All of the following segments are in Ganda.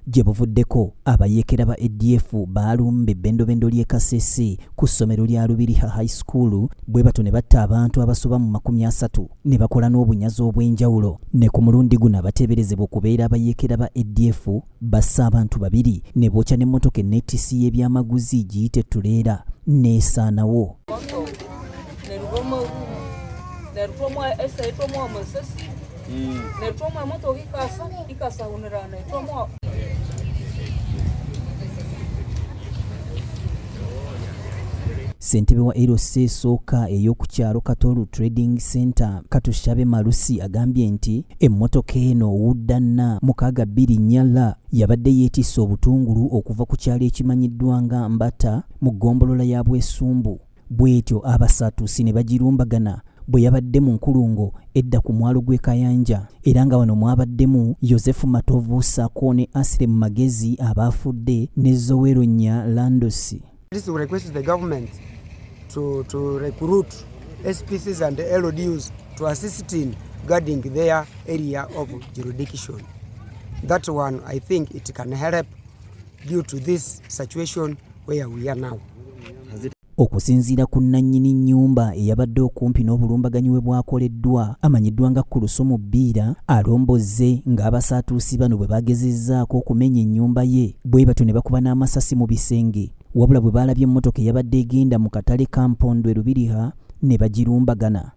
Gye buvuddeko abayeekera ba ADF baalumbye ebbendobendo ly'e Kasese ku ssomero lya Lubiriha High School bwe batyo ne batta abantu abasoba mu makumi asatu ne bakola n'obunyazi obw'enjawulo. Ne ku mulundi guno abateeberezebwa okubeera abayeekera ba ADF basse abantu babiri ne bookya n'emmotoka enneetissi y'ebyamaguzi giyite ttuleera n'esaanawo. netwomwa emotoka ikasa ikasawunira netwomwa ssentebe wa LC esooka ey'oku kyalo Katoro Trading Center Katushabe Malusi agambye nti emmotoka eno wuddanna mukaaga bbiri nyala yabadde yeetisse obutungulu okuva ku kyalo ekimanyiddwa nga Mbata mu ggombolola ya Bwesumbu Bw'etyo Abasatuusi ne bagirumbagana bwe yabadde mu nkulungo edda ku mwalo gw'e Kayanja era nga wano mwabaddemu Yosefu Matovu ssaako ne Asile mu magezi abaafudde ne Zowero Nya Landosi. SPCs and LDUs to assist in guarding their area of jurisdiction. That one, I think it can help due to this situation Okusinziira ku nnannyini nnyumba eyabadde okumpi n'obulumbaganyi we bwakoleddwa amanyiddwa nga Kulusumu Bbiira alombozze ng'abasaatuusi bano bwe baagezezzaako okumenya ennyumba ye bwe batyo ne bakuba n'amasasi mu bisenge wabula bwe baalabye emmotoka eyabadde egenda mu katale ka Mpondwe Lubiriha ne bagirumbagana.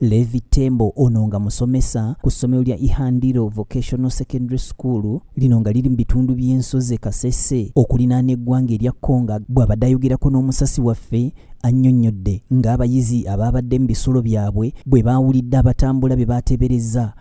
Levi Tembo ono nga musomesa ku ssomero lya Ihandiro Vocational Secondary School lino nga liri mu bitundu by'ensozi e Kasese okulinaana eggwanga erya Congo bw'abadde ayogerako n'omusasi waffe annyonnyodde ng'abayizi abaabadde mu bisulo byabwe bwe baawulidde abatambula be baateeberezza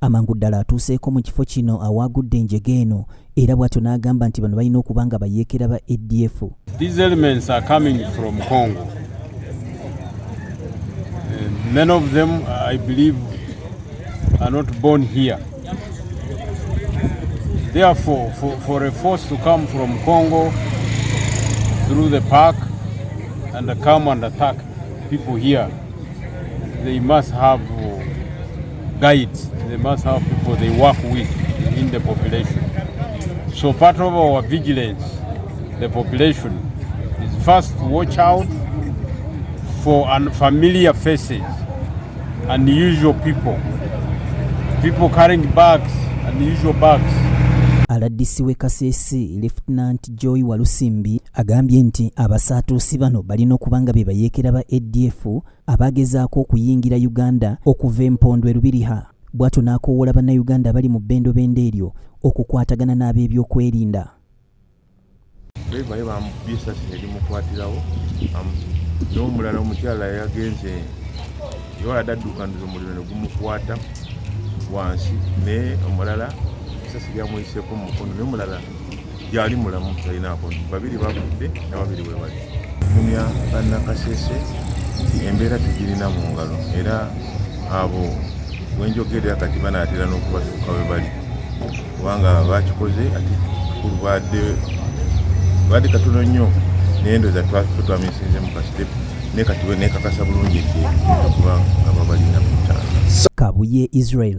amangu ddala atuuseeko mu kifo kino awaagudde enjega eno era bw'atyo n'agamba nti bano balina okuba nga bayeekera ba adf These elements are coming from Congo. Eh, many of them, I believe, are not born here. Therefore, for, for a force to come from Congo through the park and come and attack people here, they must have Guides, they must have people they work with in the population. So part of our vigilance, the population, is first watch out for unfamiliar faces, unusual people, people carrying bags, unusual bags. rdc w'e kasese lefutinanti joy walusimbi agambye nti abasaatuusi bano balina okuba nga be bayeekera ba adf abaagezaako okuyingira Uganda okuva empondo e Lubiriha bw'atyo n'akoowoola Bannayuganda abali mu bbendobendo eryo okukwatagana n'abeebyokwerinda. Ddereeva ye bamukubye essasi ne limukwatirawo n'omulala omukyala yagenze yewala daddukanira omuliro ne gumukwata wansi naye omulala essasi lyamuyiseko mu mukono naye omulala gyali mulamu talinaako babiri bafudde na babiri we bali kumya bannakasese nti embeera tugirina mu ngalo era abo wenjogerera kati banaatera n'okubatuuka we bali kubanga bakikoze ati kikulu badde badde katono nnyo naye ndoza twamisinze mu kasitepu naye kati nekakasa bulungi nti okuba nga babalina kutanga kabuye israel